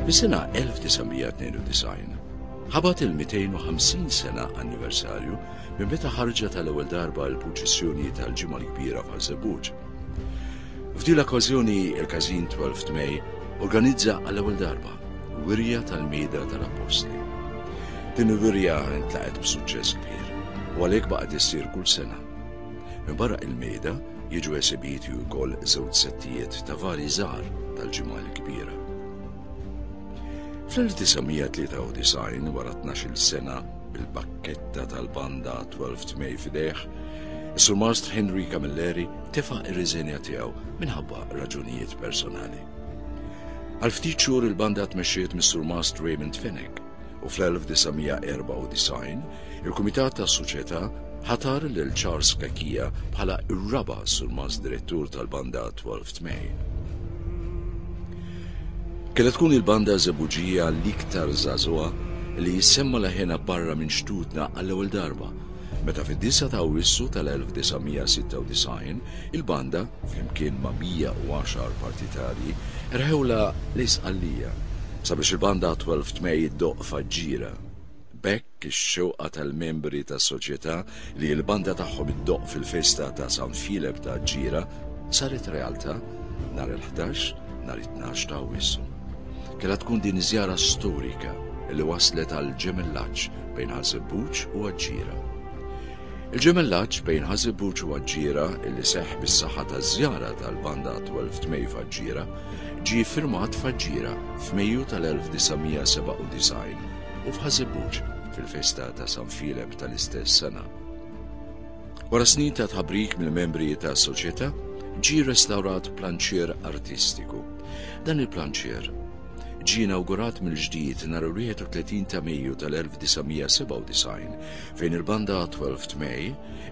Fis-sena 1992 ħabat il-250 sena anniversarju minn meta ħarġa tal-ewwel darba l-purċissjoni tal-Ġimgħa l-Kbira f'Ħażebuġ. F'din l-okkażjoni il-Każin 12 May organizza għall-ewwel darba wirja tal-Mida tal-Appostli. Din il-wirja intlaqet b'suċċess kbir u għalhekk baqgħet issir kull sena. Minbarra il-Mida jiġu esibiti wkoll żewġ settijiet ta' vari żgħar tal-ġimgħa l-kbira. Fl-1993 wara 12 sena bil-bakketta tal-banda 12 tmej f'idejh, Is-Surmastru Henry Camilleri tefa' ir-riżenja tiegħu minħabba raġunijiet personali. Għal ftit xhur il-banda tmexxiet mis-Surmastru Raymond Fenech u fl-1994 il-Kumitat tas-Soċjetà ħatar lil Charles Cachia bħala r-raba' surmast direttur tal-banda 12 May. Kienet tkun il-banda żebuġija l-iktar żagħżugħa li jissemma leħena barra minn xtutna għall-ewwel darba meta fid-9 ta' Awwissu tal-1996 il-banda, flimkien ma' 110 partitarji, erħewlha l-Isqallija sabiex il-banda Twelve Tmej iddoqq f'Aġġira. B'hekk ix-xewqa tal-membri tas-Soċjetà li l-banda tagħhom iddoqq fil-festa ta' San Filep ta' Aġġira saret realtà nhar il-ħdax nhar it-tnax ta' Awwissu. Kellha tkun din iż-żjara storika li wasslet għal ġemellaġġ bejn Ħaż-Żebbuġ u Aġġiera. Il-ġemellaġġ bejn Ħaż-Żebbuġ u Aġġiera li seħħ bis-saħħa taż-żjara tal-Banda 12 Tmej f'Aġġiera ġie ffirmat f'Aġġiera f'Mejju tal-1997 u f'Ħaż-Żebbuġ fil-festa ta' San Filep tal-istess sena. Wara snin ta' tħabrik mill-membri tas-Soċjetà, ġie restawrat planċier artistiku. Dan il-planċier ġie inawgurat mill-ġdid nhar il-31 ta' Mejju tal-1997 fejn il-banda 12 May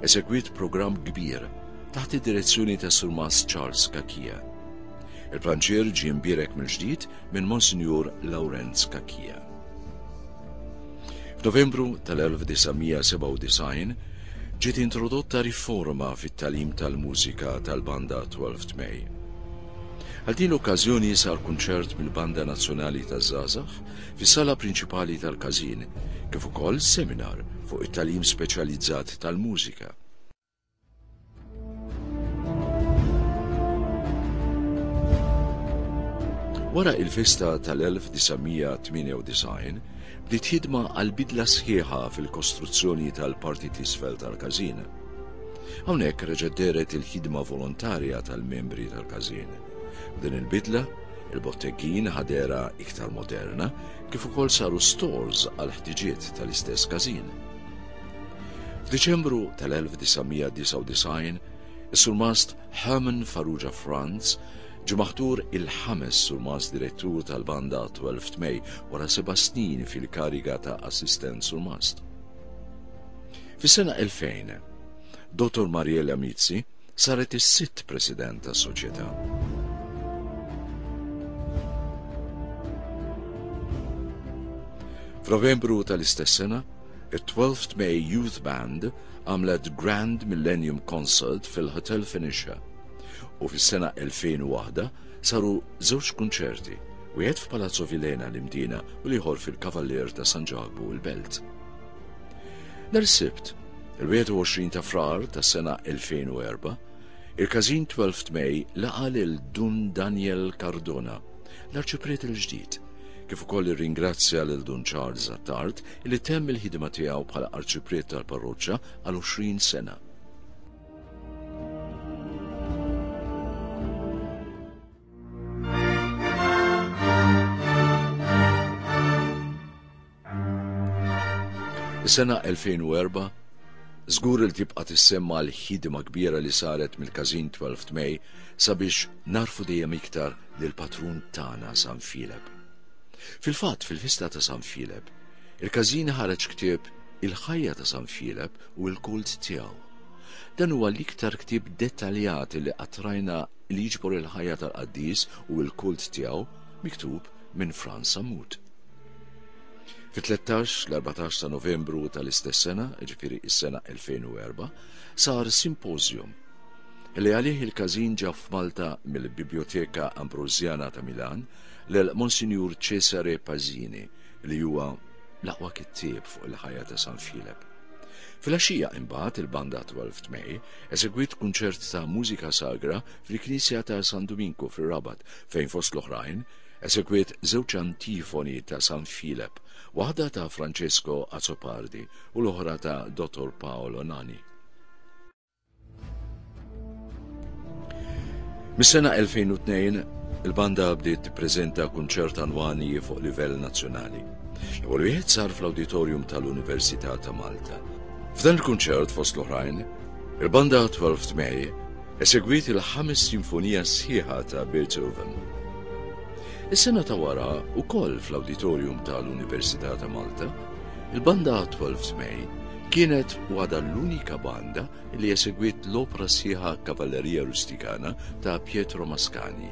esegwiet programm kbir taħt id-direzzjoni ta' Surmast Charles Cachia. Il-planċier ġie mbierek mill-ġdid minn Monsinjur Lawrenz Cachia. F'Novembru tal-1997 ġiet introdotta riforma fit-tagħlim tal-mużika tal-banda 12 May. Għal din l-okkażjoni sar kunċert mill-Banda Nazzjonali taż-Żgħażagħ fis-sala prinċipali tal-Każin, kif ukoll seminar fuq it-tagħlim speċjalizzat tal-mużika. Wara il-festa tal-1998, bdiet ħidma għal bidla sħiħa fil-kostruzzjoni tal-parti t'isfel tal-Każin. Hawnhekk reġgħet dehret il-ħidma volontarja tal-membri tal-każin. B'din il-bidla, il-botteggin ħa dehra iktar moderna kif ukoll saru stores għall-ħtiġiet tal-istess każin. F'Diċembru tal-1999, is-Surmast Herman Farrugia Franz ġie maħtur il-ħames Surmast Direttur tal-Banda 12 May wara seba' snin fil-kariga ta' Assistent Surmast. Fis-sena 2000, Dottor Mariella Mizzi saret is-sitt President tas-Soċjetà. F'Novembru tal-istess sena, it-12th May Youth Band għamlet Grand Millennium Concert fil-Hotel Fenicia u fis-sena 2001 saru żewġ kunċerti wieħed f'Palazzo Vilhena l-Imdina u l-ieħor fil-Cavalier ta' San Ġakbu il-Belt. Nhar is-Sibt, il-21 ta' Frar tas-sena 2004, il-Każin 12 May laqa' lil Dun Daniel Cardona, l-Arċipriet il-ġdid, kif ukoll irringrazzja lil Dun Charles Attard li temm il-ħidma tiegħu bħala Arċipriet tal-Parroċċa għal 20 sena. Is-sena 2004 Zgur il tibqa tissemma l-ħidima kbira li saret mill-kazin 12 May sabiex narfu dejjem iktar l patrun tana San Fileb. Fil-fatt fil-fista ta' San Fileb, il-kazin ħareġ ktieb il-ħajja ta' San Fileb u l-kult tiegħu. Dan huwa l-iktar ktieb dettaljat li qatrajna li jiġbor il-ħajja tal-qaddis u l-kult tiegħu miktub minn Frans Sammut. Fit-13 l-14 ta' Novembru tal-istess sena, ġifieri is-sena 2004, sar simpożjum li għalih il-każin ġab f'Malta mill-Biblioteka Ambrosjana ta' Milan lil Monsinjur Cesare Pazzini li huwa l-aqwa kittieb fuq il-ħajja ta' San Filep. Fil-axija imbagħad il-banda 12 May Esegwiet kunċert ta' mużika sagra fil-Knisja ta' San Duminku fir-Rabat fejn fost l-oħrajn, esegwiet żewġ antifoni ta' San Filep, waħda ta' Francesco Azzopardi u l-oħra ta' Dottor Paolo Nani. Mis-sena 2002, il-banda bdiet tippreżenta kunċert annwali fuq livell nazzjonali. L-ewwel wieħed sar fl-Awditorium tal-Università ta' Malta. F'dan il-kunċert, fost l-oħrajn, il-banda Twelfth May esegwiet il-ħames sinfonija sħiħa ta' Beethoven. Is-sena ta' wara wkoll fl-awditorium tal-Università ta' Malta, il-banda Twelfth May kienet wada l-unika banda li esegwiet l-opra sħiħa Cavalleria Rusticana ta' Pietro Mascagni.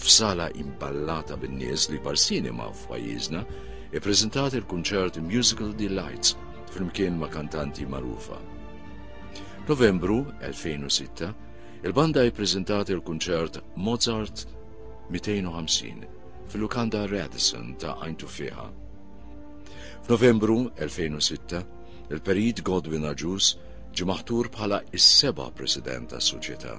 f'sala imballata bin-nies li Barsini ma' f'pajjiżna, ippreżentat il-kunċert Musical Delights flimkien ma' kantanti magħrufa. Novembru 2006, il-banda ippreżentat il-kunċert Mozart 250 fil-lukanda Radisson ta' Għajn Tufieħa. F'Novembru 2006, il-Perit Godwin Agius ġie maħtur bħala is-seba' President tas-Soċjetà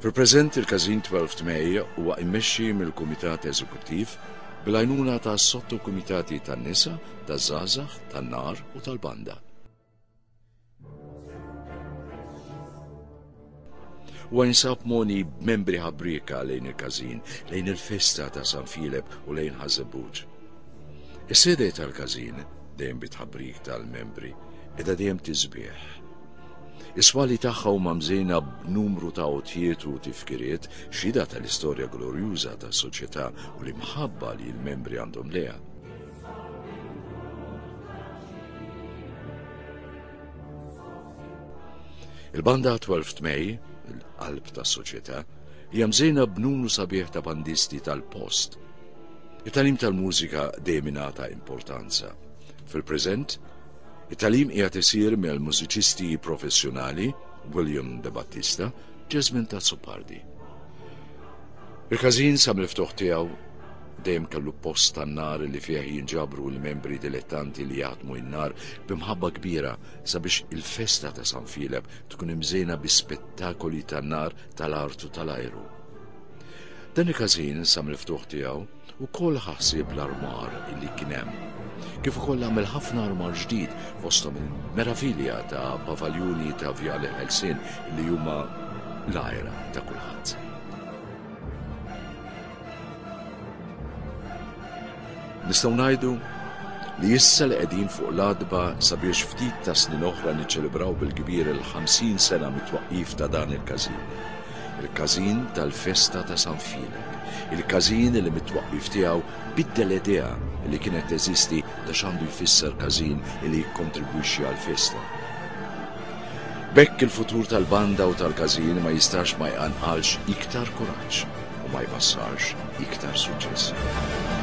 Fil-preżent il-Każin Twelfth May huwa immexxi mill-Kumitat Eżekuttiv bil-għajnuna ta' sottokumitati tan-nisa, taż-żgħażagħ, tan-nar u tal-banda. Huwa jinsab moni b'membri ħabrieka lejn il-Każin, lejn il-festa ta' San Filep u lejn Ħażebbuġ. Is-sede tal-Każin dejjem bit-ħabrik tal-membri, edha dejjem tiżbieħ. Is-swali tagħha huma mżejna b'numru ta' għotjiet u tifkiriet, xhieda tal-istorja glorjuża tas-soċjetà u l-imħabba li l-membri għandhom lejha. Il-banda 12 May, il-qalb tas-soċjetà, hija mżejna b'numru sabiħ ta' bandisti tal-post. It-talim tal-mużika dejjem importanza. Fil-preżent, It-tagħlim qiegħed isir mill-mużiċisti professjonali William De Battista, Jasmine Tazzopardi. Il-każin sa mill-ftuħ tiegħu dejjem kellu post tan-nar li fih jinġabru l-membri dilettanti li jaħdmu n-nar b'imħabba kbira sabiex il-festa ta' San Filep tkun imżejna bi spettakoli tan-nar tal-artu tal-ajru. Dan il-każin sa mill-ftuħ tiegħu Ukoll ħa ħsieb l-armar li kien hemm. Kif ukoll għamel ħafna armar ġdid fosthom il-meravilja ta' pavaljuni ta' Viale Ħelsien li huma l-għira ta' kulħadd. Nistgħu ngħidu li issa li qegħdin fuq l-għadba sabiex ftit ta' snin oħra niċċelebraw bil-kbir il-50 sena mit-twaqqif ta' dan il-każin. Il-każin tal-festa ta' San Filep. Il-każin li mit-twaqqif tiegħu biddel idea li kienet teżisti ta' x'għandu jfisser każin li jikkontribwixxi għall-festa. B'hekk il-futur tal-banda u tal-każin ma jistax ma jqanqalx iktar kuraġġ u ma jbassarx iktar suċċessi.